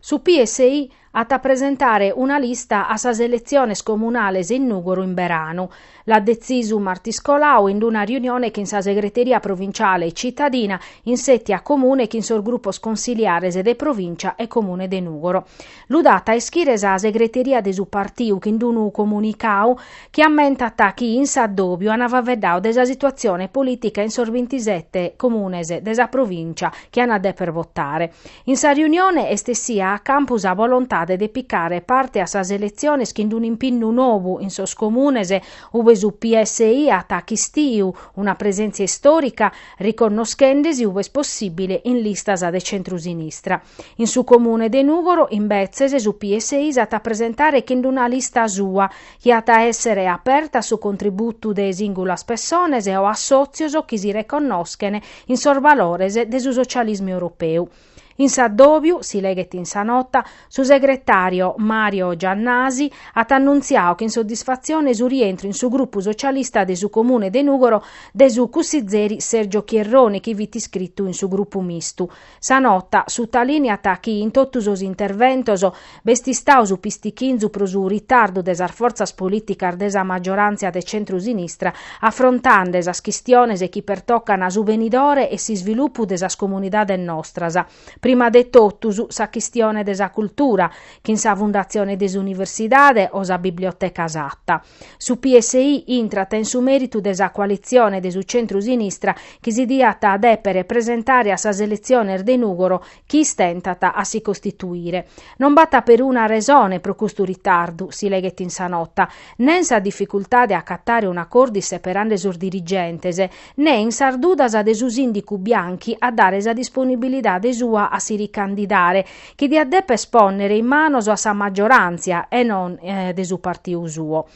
Su PSI at a presentare una lista a sas eletziones comunales in Nùgoro in beranu. L'at detzisu martis colau in una riunione chin sa segreteria provinciale e citadina in sètia comune chin sos grupos consiliares de Provìncia e Comune de Nùgoro. Lu dat a ischire sa segreteria de su partiu chin unu comunicadu chi ammentat chi in s'addòbiu an faveddau de sa situatzione polìtica in sos bintisete Comunes de sa Provìncia chi an a dèpere botare. In sa riunione est essia a campu sa bolontade de picare parte a sas eletziones chin unu impinnu nobu in sos comunes ube su PSI at achistiu una presèntzia istòrica riconnoschende·si ube est possìbile in listas de centru-sinistra. In su comune de Nùgoro, imbetzes, su PSI s'at a presentare chin una lista sua, chi at a èssere aperta a su contributu de sìngulas pessones o assòtzios chi si reconnoschen in sos balores de su socialismu europeu. In s'addòbiu, si leghet in sa nota, su segretàrio Mario Giannasi at annuntziau chin soddisfatzione su rientru in su grupu socialista de su Comune de Nùgoro de su cussizeri Sergio Chierroni chi fit iscritu in su grupu mistu. Sa nota sutalìneat chi in totu sos interventos b'est istau su pistichinzu pro su ritardu de sas fortzas polìticas de sa maggioràntzia de centru-sinistra afrontande sas chistiones chi pertocan su benidore e s'isvilupu de sas comunidades nostras, prima de totus sa chistione de sa cultura, chin sa fundatzione de s'universidade o sa biblioteca Satta. Su PSI intrat in su mèritu de sa coalitzione de su centru-sinistra chi si diat dèpere presentare a sas eletziones de Nùgoro chi istentat a si costituire. Non b'acatat peruna resone pro custu ritardu, si leghet in sa nota, nen sa dificultade a acatare un'acòrdu isseperande sos dirigentes, nen sas dudas de su sìndicu Bianchi a dare sa disponibilidade sua a si ricandidare, chi diat dèpere pònnere in manos a sa maggioràntzia e non de su partiu suo.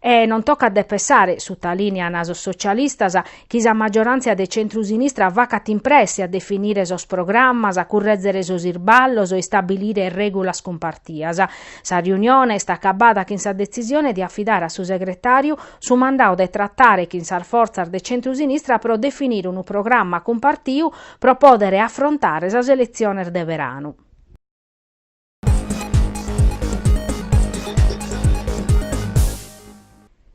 E non tocat de pessare, sutalìnean sos socialistas, chi sa maggioràntzia de centru-sinistra facat in presse a definire sos programmas, a currèzere sos irballos e istabilire règulas cumpartias. Sa riunione est acabada chin sa detzisione de afidare a su segretàriu su mandau de tratare chin sas fortzas de centrusinistra pro definire unu programma cumpartiu pro pòdere afrontare sas eletziones de beranu.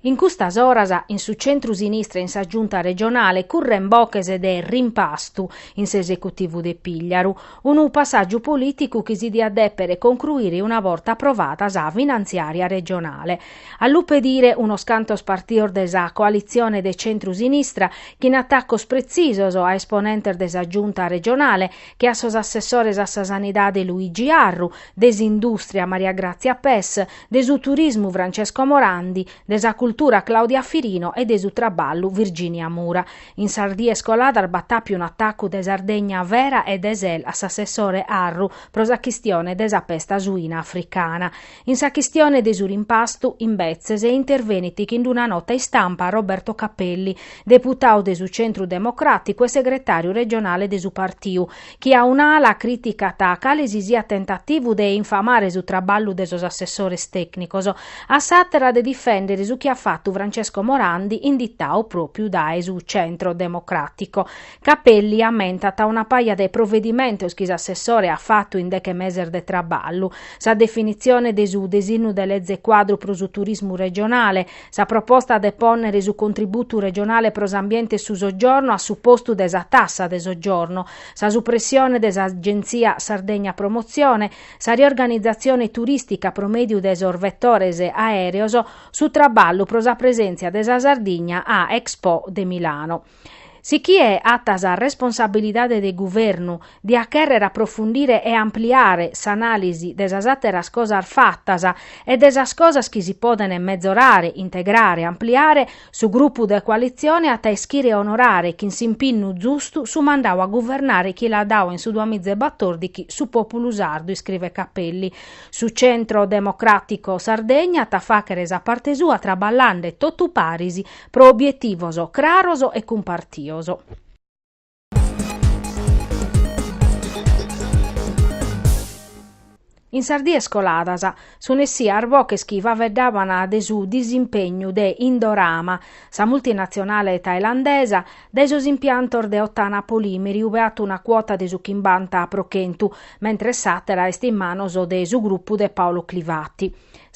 In custas oras in su centrusinistra e in sa Giunta regionale curren boches de rimpastu in s'esecutivu de Pìgliaru, unu passàgiu polìticu chi si diat dèpere concruire una borta aprovada sa finantziària regionale. A lu pedire unos cantos partios de sa coalitzione de centru-sinistra chin atacos pretzisos a esponentes de sa Giunta regionale che a sos assessores a sa Sanidade Luigi Arru, de s'Indùstria Maria Gràtzia Pes, de su Turismu Francesco Morandi, de sa Cultura Claudia Firino e de su Traballu Virginia Mura. In sas dies coladas b'at àpiu un'atacu de Sardegna Vera e de Sel a s'assessore Arru pro sa chistione de sa pesta suina africana. In sa chistione de su rimpastu, imbetzes, intervenit chin d'una nota istampa Roberto Capelli, deputau de su Centru Democràticu e segretàriu regionale de su partiu, chi a un'ala crìticat cale si siat tentativu de infamare su traballu de sos assessores tècnicos, a s'àtera de difèndere su chi at fatu Francesco Morandi inditau pròpiu dae su Centro Democràtico. Capelli ammentat una paja de provedimentos chi s'assessore at fatu in deche meses de traballu, sa definitzione de su desinnu de leze cuadru pro su turismu regionale, sa proposta de pònnere su contributu regionale pro s'ambiente e su soggiorno a su postu de sa tassa de soggiorno, sa supressione de s'Agentzia Sardegna Promozione, sa riorganizatzione turistica pro mèdiu de sos vetores aèreos, su traballu pro sa presèntzia de sa Sardigna a Expo de Milano. Si chie at sa responsabilidade de guvernu diat chèrrere aprofundire e ampliare s'anàlisi de sas àteras cosas fatas e de sas cosas chi si podent metzorare, integrare, ampliare, su grupu de coalitzione at a ischire onorare chin s'impinnu zustu su mandau a guvernare chi l'at dau in su duamizaebatòrdichi su pòpulu sardu, iscrivet Capelli. Su Centro Democràtico Sardegna at a fàchere sa parte sua traballande totu paris Pro obietivos craros e cumpartios. In sas dies coladas, sun essias boches chi faveddaban de su disimpegnu de Indorama, sa multinatzionale tailandesa, dae sos impiantos de Ottana Polimeri ube at una cuota de su chimbanta pro chentu, mentres s'àtera est in manos de su grupu de Paolo Clivati.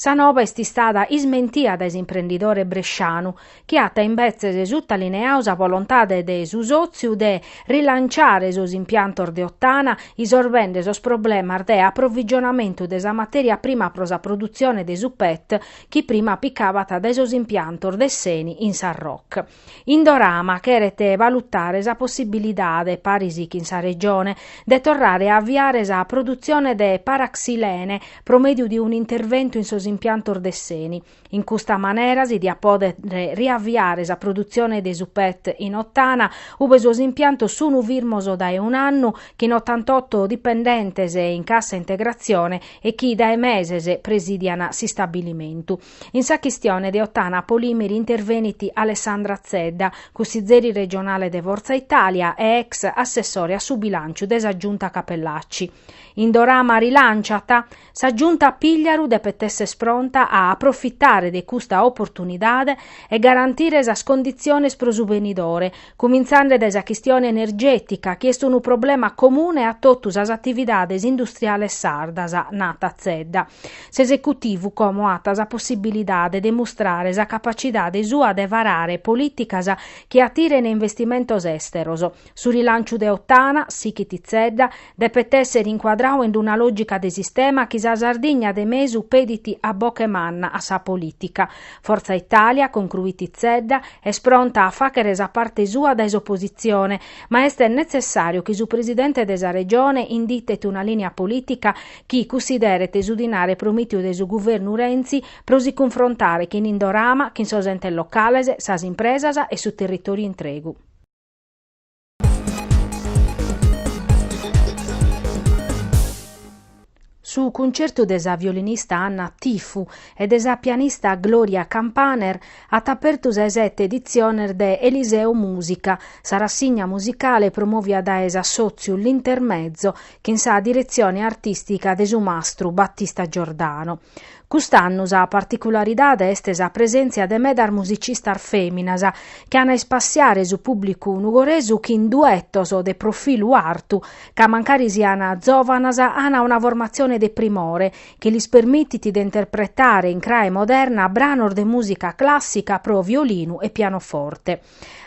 Sa noba est istada ismentia dae s'imprendidore brescianu, chi at imbetzes sutalineau sa bolontade de su sòtziu de rilanciare sos impiantos de Ottana isorbende sos problemas de aprovigionamentu de sa matèria prima pro sa produtzione de su pet chi prima picabat dae sos impiantos de s'Eni in Sarroch. Indorama cheret balutare sa possibilidade, paris chin sa Regione, de torrare a aviare sa produtzione de paraxilene pro mèdiu de un'interventu in sos impiantos de s'Eni. In custa manera si diat pòdere riaviare sa produtzione de su pet in Ottana, ube sos impiantos sunu firmos dae un'annu, chin otantotto dipendentes in cassa integratzione e chi dae meses presidian s'istabilimentu. In sa chistione de Ottana Polimeri intervenit Alessandra Zedda, cussizeri regionale de Forza Italia e ex assessore a su bilànciu de sa Giunta Cappellacci. Indorama rilànciat, Sa Giunta Pigliaru depet esser pronta a aprofitare de custa oportunidade e garantire sas conditziones pro su benidore, cumintzende dae sa chistione energètica chi est unu problema comune a totu sas atividades industriales sardas, nat Zedda. S'esecutivu como at sa possibilidade de mustrare sa capacidade sua de varare polìticas chi atirene investimentos èsteros. Su rilànciu de Ottana, sighit Zedda, depet èssere incuadradu in una lògica de sistema chi sa Sardigna de mesu pedit a boche manna a sa polìtica. Forza Italia, concruit Zedda, est pronta a fàghere sa parte sua dae s'opositzione, ma est netzessàriu chi su presidente de sa Regione inditet una lìnia polìtica chi cussideret su dinare promìtiu de su guvernu Renzi pro si cunfrontare chin Indorama, chin sos entes locales, sas impresas e su territòriu intregu. Su cuncertu de sa violinista Anna Tifu e de sa pianista Gloria Campaner at apertu sa 'e sete editziones de Eliseo Musica, sa rassigna musicale promòvia dae s'assòtziu L'Intermezzo, chin sa diretzione artìstica de su mastru Battista Giordano. Cust'annu sa particularidade est sa presèntzia de medas musicistas fèminas chi an a ispassiare su pùblicu nugoresu chin duetos de profilu artu ca mancari sian zòvanas an una formatzione de primore chi lis permitit de interpretare in crae moderna branos de mùsica clàssica pro violinu e pianoforte.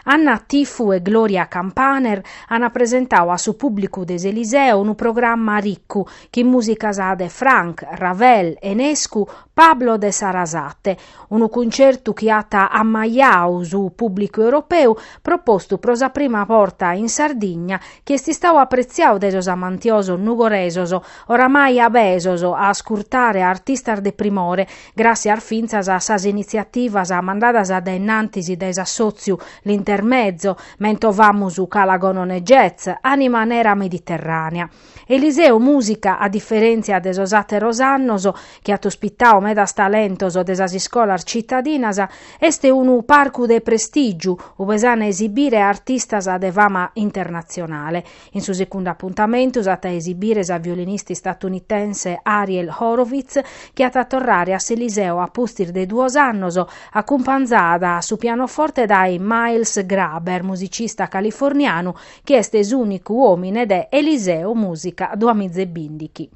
Anna Tifu e Gloria Campaner ant presentau a su pùblicu de s'Eliseo unu programma ricu, chin mùsicas de Franck, Ravel, Enescu, Pablo de Sarasate. Unu cuncertu chi at ammajau su pùblicu europeu, propostu pro sa prima borta in Sardigna, chi est istau apretziau dae sos amantiosos nugoresos, oramai abesos a ascurtare artistas de primore, Gràssias fintzas a sas initziativas mandadas a dainnantis dae s'assòtziu L'Intermezzo, mentovamus Cala Gonone Jazz, Anima Nera Mediterranea. Eliseo Musica, a diferèntzia de sos àteros annos, chi at ospitadu medas talentos de sas iscolas citadinas, est unu parcu de prestìgiu, ue s'ant a esibire artistas de fama internatzionale. In su segundu apuntamentu s'at a esibire sa violinista istatunitense Ariel Horowitz chi at a torrare a s'Eliseo a pustis de duos annos, acumpanzada a su pianoforte dae Miles Graber, musicista californianu chi est s'ùnicu òmine de Eliseo Musica duamiza e bindighi.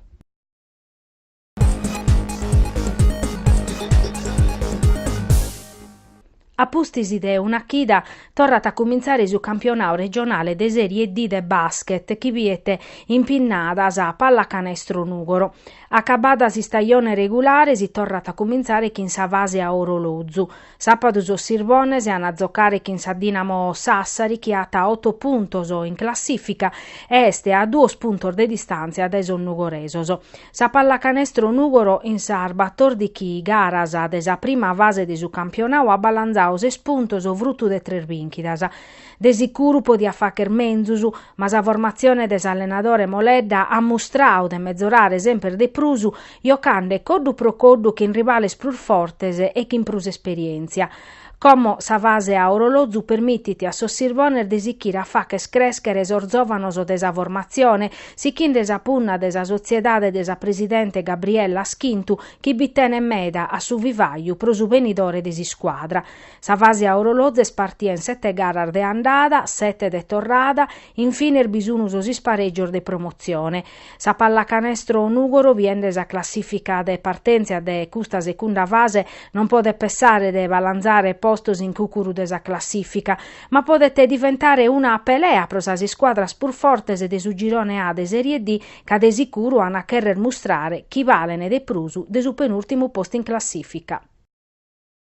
A pustis de una chida torrat a cumintzare su campionadu regionale de Sèrie D de bàschet chi biet impinnada sa Pallacanestro Nùgoro. Acabada s'istajone regulare si torrat a cumintzare chin sa fase a orolozu. Sàpadu sos Sirbones an a zocare chin sa Dinamo Sassari chi at oto puntos in classìfica e est a duos puntos de distàntzia dae sos nugoresos. Sa pallacanestro Nùgoro in sas batòrdighi garas de sa prima fase de su campionadu at balanzadu ses puntos frutu de tres bìnchidas. De sicuru podiat fàcher menzus, ma sa formatzione de s'allenadore Moledda at mustrau de mezorare semper de prus, jocande coddu pro coddu chin rivales prus fortes e chin prus esperièntzia. Como sa fase a orolozu permitit a sos Sirbones de sichire a fàcher crèschere sos zòvanos de sa formatzione, sichinde sa punna de sa sotziedade de sa presidente Gabriella Schintu chi bi tenet meda a su vivaju pro su benidore de s'iscuadra. Sa fase a orolozu est partia in sete garas de andada, sete de torrada, in fines bi sun sos isparègios de promotzione. Sa pallacanestro Nùgoro, biende sa classìfica de partèntzia de custa secunda fase, non podet pessare de balanzare postos in cùcuru de sa classìfica, ma podet diventare una pelea pro sas iscuadras prus fortes de su girone A de Sèrie D, ca de sicuru an a chèrrer mustrare chi balen de prus de su penùltimu postu in classìfica.